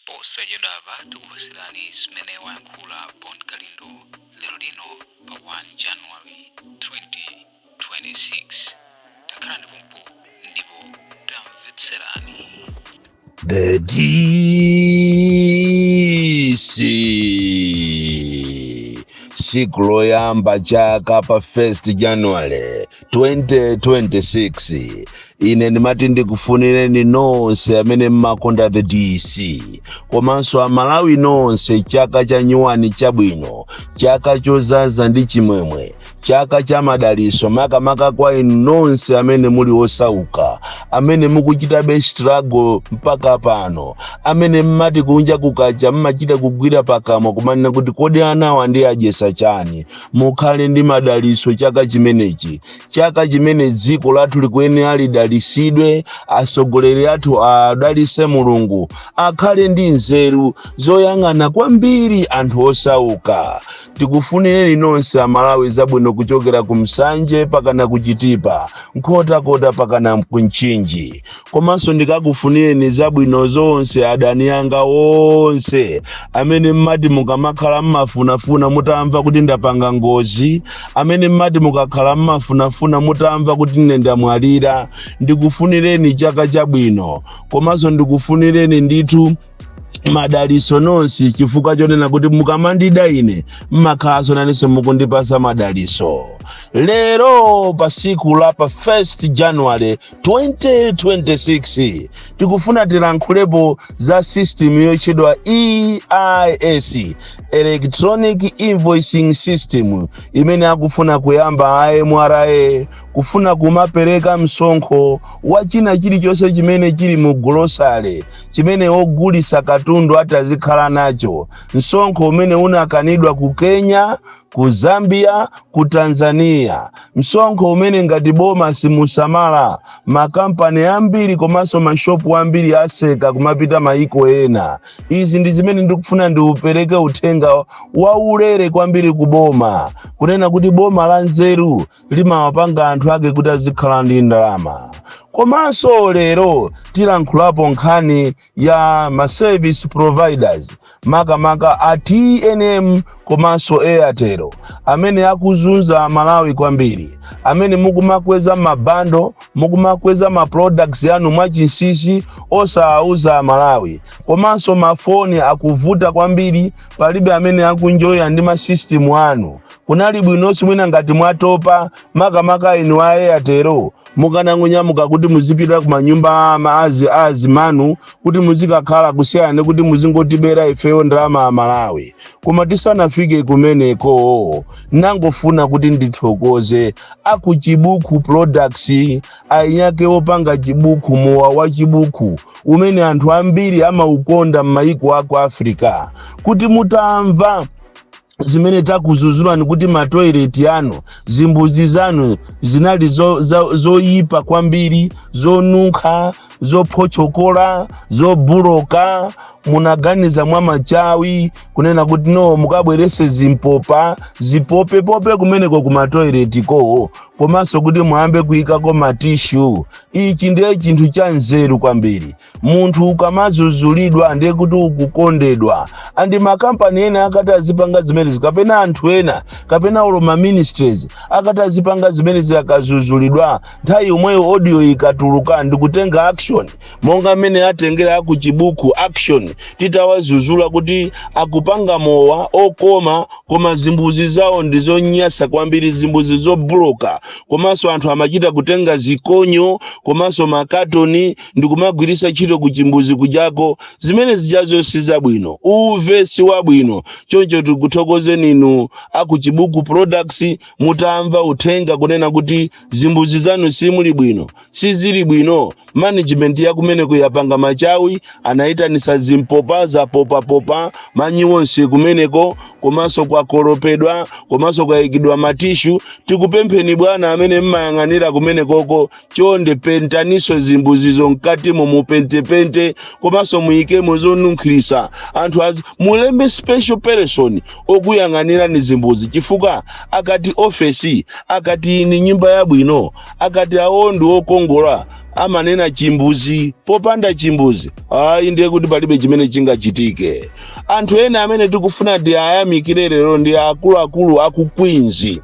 Posachedwapa tikupatsirani zimene wayankhula Bon Kalindo lero lino pa 1 January 2026. Takhalani pompo ndipo tamvetserani. The DC siku loyamba chaka pa 1st January 2026 ine ndimati ndikufunireni nonse amene mmakonda the dc komanso amalawi nonse chaka cha nyuwani chabwino chaka chozaza ndi chimwemwe chaka cha madaliso makamaka kwa inu nonse amene muli osauka amene mukuchitabe struggle mpaka pano amene mmati kunja kukacha mmachita kugwira pakamwa kumanena kuti kodi anawa ndiwadyesa chani mukhale ndi madaliso chaka chimenechi chaka chimene dziko lathu likuyenera lidalisidwe asogoleri athu awadalise mulungu akhale ndi nzeru zoyang'ana kwambiri anthu osauka tikufunireni nonse amalawi zabwino kuchokera ku nsanje pakana kuchitipa nkhotakota pakana ku mchinji komanso ndikakufunireni zabwino zonse adani anga onse amene mmati mukamakhala mmafunafuna mutamva kuti ndapanga ngozi amene mmati mukakhala mmafunafuna mutamva kuti ine ndamwalira ndikufunireni chaka chabwino komanso ndikufunireni ndithu madaliso nonse chifukwa chonena kuti mukamandida ine mmakhalanso nanenso mukundipasa madaliso lero pa siku la pa 1 january 2026 tikufuna tilankhulepo za system yotchedwa EIS electronic invoicing system imene akufuna kuyamba a MRA kufuna kumapereka msonkho wa china chilichonse chimene chili mu golosale chimene ogulisa katundu atazikhala nacho msonkho umene unakanidwa ku Kenya ku Zambia, ku Tanzania. Msonkho umene ngati boma simusamala, makampani ambiri komanso mashopu ambiri aseka kumapita maiko ena. Izi ndi zimene ndikufuna ndipereke uthenga waulere kwambiri ku boma, kunena kuti boma la nzeru limawapanga anthu ake kuti azikhala ndi ndalama. Komanso lero tilankhulapo nkhani ya ma service providers makamaka a tnm komanso a airtel amene akuzunza amalawi kwambiri amene mukumakweza mabando mukumakweza ma products anu mwachinsisi osawauza amalawi komanso mafoni akuvuta kwambiri palibe amene akunjoya ndi masystem anu kunali bwinonso mwina ngati mwatopa makamaka inu a airtel mukanangonyamuka kuti muzipita ku manyumba a ama azi a azimanu kuti muzikakhala kusiyana kuti muzingotibera ifeyo ndalama a malawi koma tisanafike kumeneko nangofuna kuti ndithokoze aku chibuku products ainyake opanga chibuku mowa wa chibuku umene anthu ambiri amaukonda m'mayiko aku africa kuti mutamva zimene takuzuzulani kuti matoileti anu zimbuzi zanu zinali zo- za- zoyipa kwambiri zonunkha zophotchokola zobuloka munaganiza mwa machawi kunena kuti no mukabwerese zimpopa zipopepope kumeneko ku matoileti kowo komanso kuti muyambe kuyikako matishu ichi ndiye chinthu cha nzeru kwambiri munthu ukamazuzulidwa ndiye kuti ukukondedwa and makampani ena akati azipanga zimenezi kapena anthu ena kapena olo ma ministries akati azipanga zimenezi akazuzulidwa nthawi yomweyo audio ikatuluka ndikutenga action monga mmene atengera aku chibuku action titawazuzula kuti akupanga mowa okoma koma zimbuzi zawo ndizonyasa kwambiri zimbuzi zobloka komanso anthu amachita kutenga zikonyo komanso makatoni ndikumagwiritsa ntchito kuchimbuzi kujako zimene zijazo si zabwino uve si wabwino choncho tikuthokozeni inu akuchibuku products mutamva uthenga kunena kuti zimbuzi zanu simuli bwino sizili bwino management yakumeneko yapanga machawi anayitanisa zimpopa zapopapopa manyi wonse kumeneko komanso kwakolopedwa komanso kwayikidwa matishu tikupempheni bwana amene mmayang'anira kumenekoko chonde pentaniso zimbuzizo mkatimo mupentepente komanso muyikemo zonunkhirisa anthu azi mulembe special person okuyang'anirani zimbuzi chifukwa akati ofesi akati ndi nyumba yabwino akati awo ndi okongola amanena chimbuzi popanda chimbuzi ayi ndiye kuti palibe chimene chingachitike anthu ena amene tikufuna tiwayamikire lero ndi akuluakulu aku Queens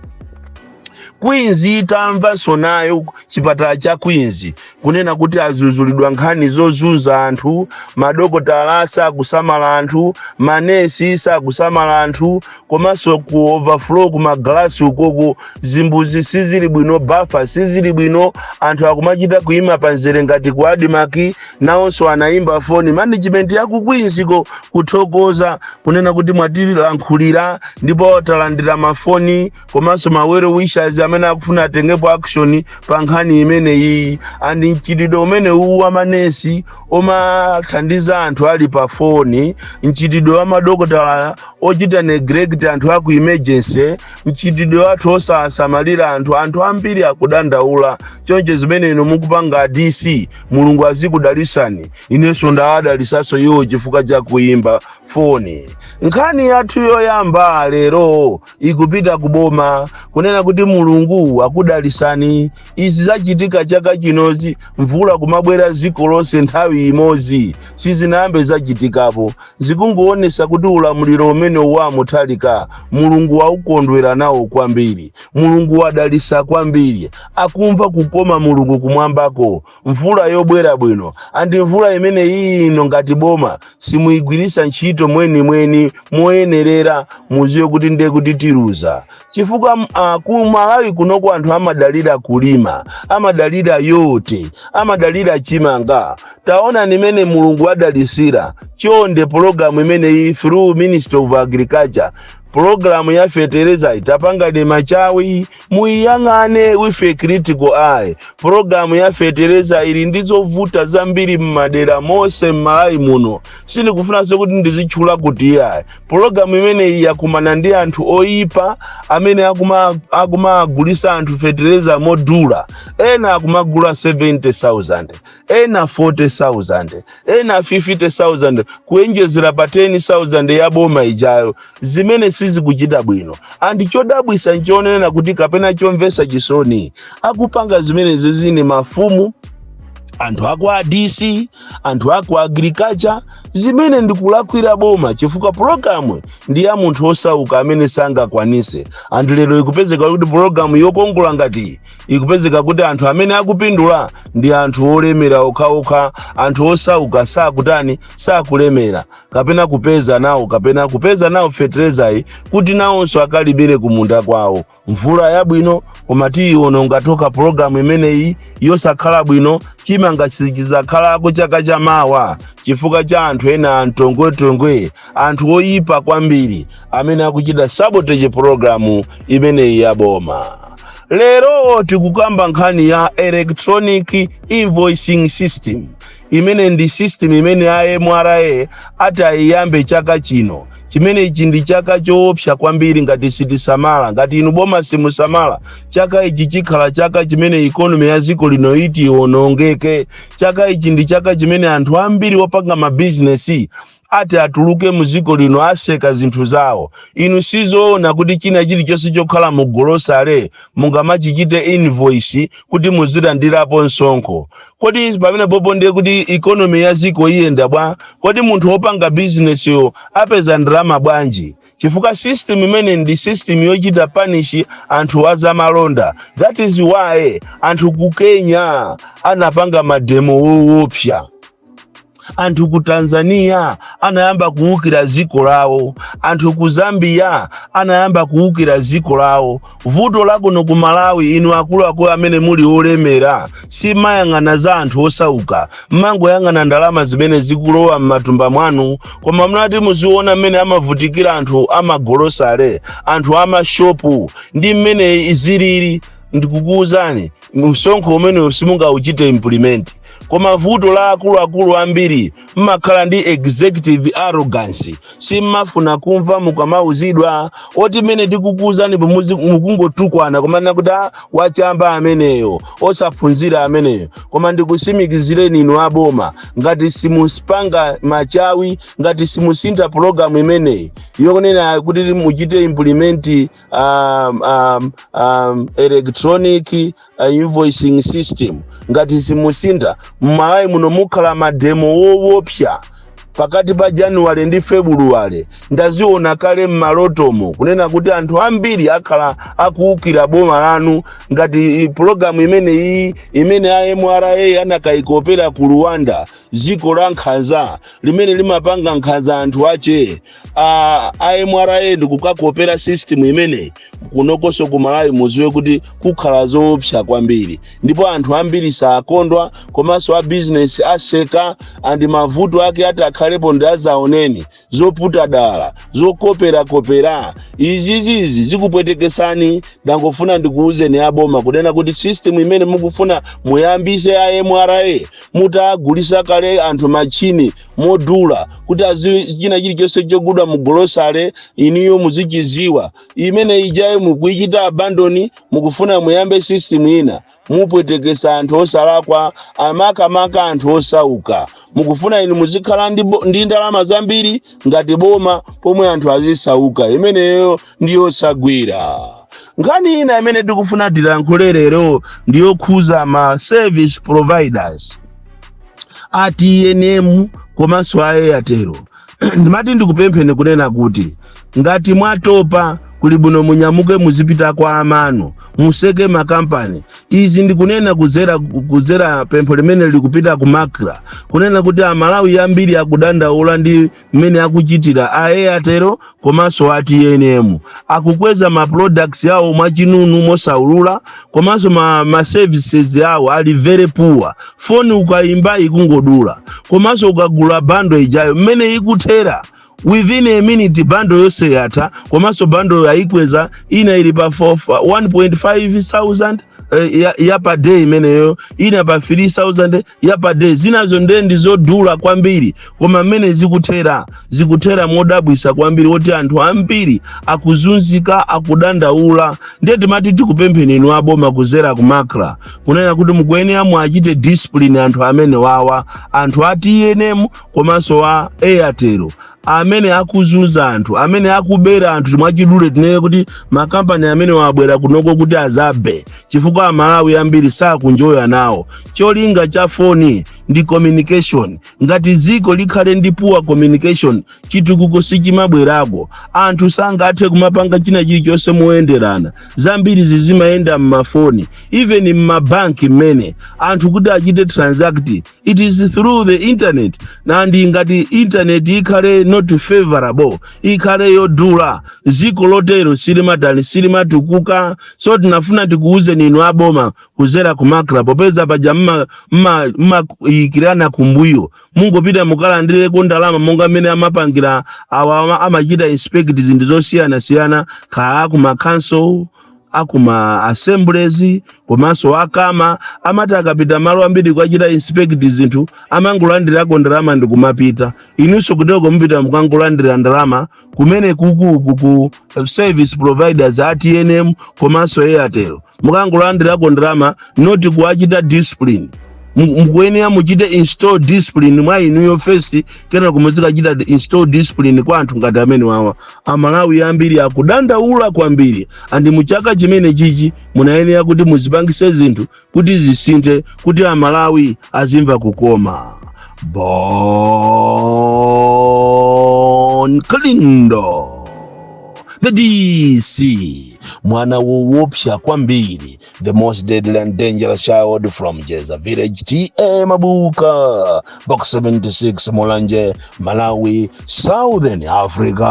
Queens itamvanso nayo chipatala cha Queens kunena kuti azuzulidwa nkhani zozunza anthu, madokotala sakusamala anthu, manesi sakusamala anthu, komanso ku overflow ku magalasi ukoko zimbuzi sizili bwino, bafa sizili bwino, anthu akumachita kuima panzere ngati ku Admarc, nawonso anaimba foni management ya ku Queens ko kuthokoza kunena kuti mwatilankhulira ndipo talandira mafoni komanso ma well wishers amene akufuna atengepo action pa nkhani imeneyi and mchitidwe umene uwu wa manesi omathandiza anthu ali pa foni mchitidwe wa madokotala ochita neglect anthu aku emergency mchitidwe wathu osasamalira anthu anthu ambiri akudandaula choncho zimene inu mukupanga a dc mulungu azikudalisani inenso ndawadalisanso iwo chifukwa cha kuimba foni nkhani yathu yoyamba lero ikupita ku boma kunena kuti mulungu akudalisani izi zachitika chaka chinozi mvula kumabwera dziko lonse nthawi imodzi sizinayambe zachitikapo zikungoonesa kuti ulamuliro umene wa mutharika mulungu waukondwera nawo kwambiri mulungu wadalisa kwambiri akumva kukoma mulungu kumwambako mvula yobwera bwino and mvula imene iyi inu ngati boma simuyigwiritsa ntchito mwenimweni moyenerera muziwe kuti ndiye kuti tiluza chifukwa uh, ku malawi kunoko anthu amadalira kulima amadalira yote amadalira chimanga taonani mmene mulungu wadalisira chonde pologalamu imeneyi through ministry of agriculture pulogalamu ya fetereza tapangani machawi Muiyang'ane with a critical eye. Pulogalamu ya fetereza ili ndi zovuta zambiri m'madera monse m'Malawi muno. Sindikufunanso kuti ndizitchula kuti iyayi. Pulogalamu imeneyi yakumana ndi anthu oyipa amene akumawagulitsa anthu fetereza modula. Ena akumagula 70,000. ena 40,000 ena 50,000 kuyenjezera pa 10,000 ya boma ijayo zimene sizikuchita bwino and chodabwisa nchonena kuti kapena chomvesa chisoni akupanga zimenezizi ndi mafumu anthu a kwa dc anthu aku agriculture zimene ndikulakwira boma chifukwa pologalamu ndi ya munthu osauka amene sangakwanise and lero ikupezeka kuti pologalamu yokongola ngati ikupezeka kuti anthu amene akupindula ndi anthu olemera okhaokha anthu osauka sakutani sakulemera kapena kupeza nawo kapena kupeza nawo feterezayi kuti nawonso akalimire kumunda kwawo mvula yabwino koma tiyiwona ngati ka pologalamu imeneyi yosakhala bwino chimanga sichizakhalako chaka cha mawa chifukwa cha anthu ena antongwetongwe anthu oyipa kwambiri amene akuchita sabotage pologalamu imeneyi yaboma lero tikukamba nkhani ya electronic invoicing system imene ndi system imene a mra ati ayiyambe chaka chino chimene ichi ndi chaka choopsa kwambiri ngati sitisamala ngati inu boma simusamala chaka ichi chikhala chaka chimene ikonomi ya dziko lino iti iwonongeke chaka ichi ndi chaka chimene anthu ambiri opanga mabizinesi oti atuluke mu dziko lino aseka zinthu zawo inu sizoona kuti china chilichonse chokhala mu golosale mungamachichite invoice kuti muzilandirapo msonkho kodi pamene popo ndiye kuti ikonomi ya dziko iyenda bwa kodi munthu wopanga bizinesiyo apeza ndalama bwanji chifukwa system imeneyi ndi system yochita punish anthu azamalonda that is why anthu ku kenya anapanga mademo wowopsa anthu ku tanzania anayamba kuwukira dziko lawo anthu ku zambia anayamba kuwukira dziko lawo vuto lakuno ku malawi inu akuluakulu amene muli olemera simmayang'ana za anthu osauka mmangoyang'ana ndalama zimene zikulowa m'matumba mwanu koma munakati muziona mmene amavutikira anthu amagolosale anthu amashopu ndi mmene zilili ndikukuwuzani msonkho umenewu simungauchite implement koma vuto la akuluakulu ambiri mmakhala ndi executive arrogance simmafuna kumva mukamauzidwa oti mmene tikukuuzanipo mukungotukwana kumanena kuti ah, wachamba ameneyo osaphunzira ameneyo koma ndikusimikizireni inu aboma ngati simuzipanga machawi ngati simusintha pologalamu imeneyi yonena kuti muchite implement electronic invoicing system ngati simusintha mmalawi muno mukhala mademo wowopsa pakati pa januwale ndi febuluwale ndaziona kale mmalotomo kunena kuti anthu ambiri akhala akuwukira boma lanu ngati pulogalamu imene iyi imene a mra anakayikopera ku rwanda dziko la nkhanza limene limapanga nkhanza anthu ache a a mra ndikukakopera system imeneyi kunokonso ku malawi muziwe kuti kukhala zoopsa kwambiri ndipo anthu ambiri sakondwa komanso a bizinesi aseka andi mavuto ake atakhalepo ndi azaoneni zoputa dala zokoperakopera izizizi zikupwetekesani ndangofuna ndikuwuzeni aboma kunena kuti system imene mukufuna muyambise a mra mutagulisa kale anthu machini modula kuti aziwe china chilichonse chogulidwa mu golosale inuyo muzichiziwa imene ijayo mukuichita abandoni mukufuna muyambe system ina mupwetekesa anthu osalakwa makamaka anthu osauka mukufuna inu muzikhala ndi ndalama zambiri ngati boma pomwe anthu azisauka imeneyo ndi yosagwira nkhani ina imene tikufuna tilankhule lero ndi yokhuza ma service providers a tnm komanso a airtel ndimati ndikupempheni kunena kuti ngati mwatopa kuli bwino munyamuke muzipita kwa amanu museke makampani izi ndikunena kuzera pempho limene likupita ku macra kunena kuti amalawi ambiri akudandaula ndi mmene akuchitira a airtel komanso a tnm akukweza ma products awo mwachinunu mosaulula komanso ma services awo ali very poor foni ukayimba ikungodula komanso ukagula bando ijayo mmene ikuthera within a minute bando yonse yatha komanso bando ayikweza ina ili pa 1.5 thousand eh, ya per day imeneyo ina pa 3000 ya per day zinazo nde ndi zodula kwambiri koma mmene zikuthera zikuthera modabwisa kwambiri woti anthu ambiri akuzunzika akudandaula ndiye timati tikupempheni inu aboma kuzera ku macra kunena kuti mukuyenera muachite discipline anthu amenewawa anthu a tnm komanso wa airtel amene akuzunza anthu amene akubera anthu mwachidule tinene kuti makampani amenewa abwera kunoko kuti azabe chifukwa amalawi ambiri sakunjoya nawo cholinga cha foni ndi communication ngati ziko likhale ndi poor communication chitukuko sichimabwerako anthu sangathe kumapanga china chilichonse moyenderana zambiri zizimayenda m'mafoni even m'mabanki mmene anthu kuti achite transact it is through the internet and ngati internet ikhale not favorable ikhale yodula ziko lotero silimatani silimatukuka so tinafuna tikuwuzeni inu aboma kuzera ku macra popeza paja mma- mma- mmayikirana kumbuyo mungopita mukalandireko ndalama monga mmene amapangira awa ama- amachita inspect zinthu zosiyanasiyana kaya akuma council akuma assemblies komanso akama amati akapita malo ambiri kukachita inspect zinthu amangolandirako ndalama ndikumapita inunso kuteko mupita mukangolandira ndalama kumenekuku ku service providers a tnm komanso airtel mukangolandirako ndalama not kuwachita discipline mukuyenera muchite install discipline mwa inuyo first kenaka muzikachita install discipline kwa anthu ngati amenewawa amalawi ambiri akudandaula kwambiri and muchaka chimenechichi munayenera kuti muzipangise zinthu kuti zisinthe kuti amalawi azimva kukoma bon kalindo the dc mwana wowopsa kwambiri the most deadly and dangerous child from jeza village ta mabuka box 76 mulanje malawi southern africa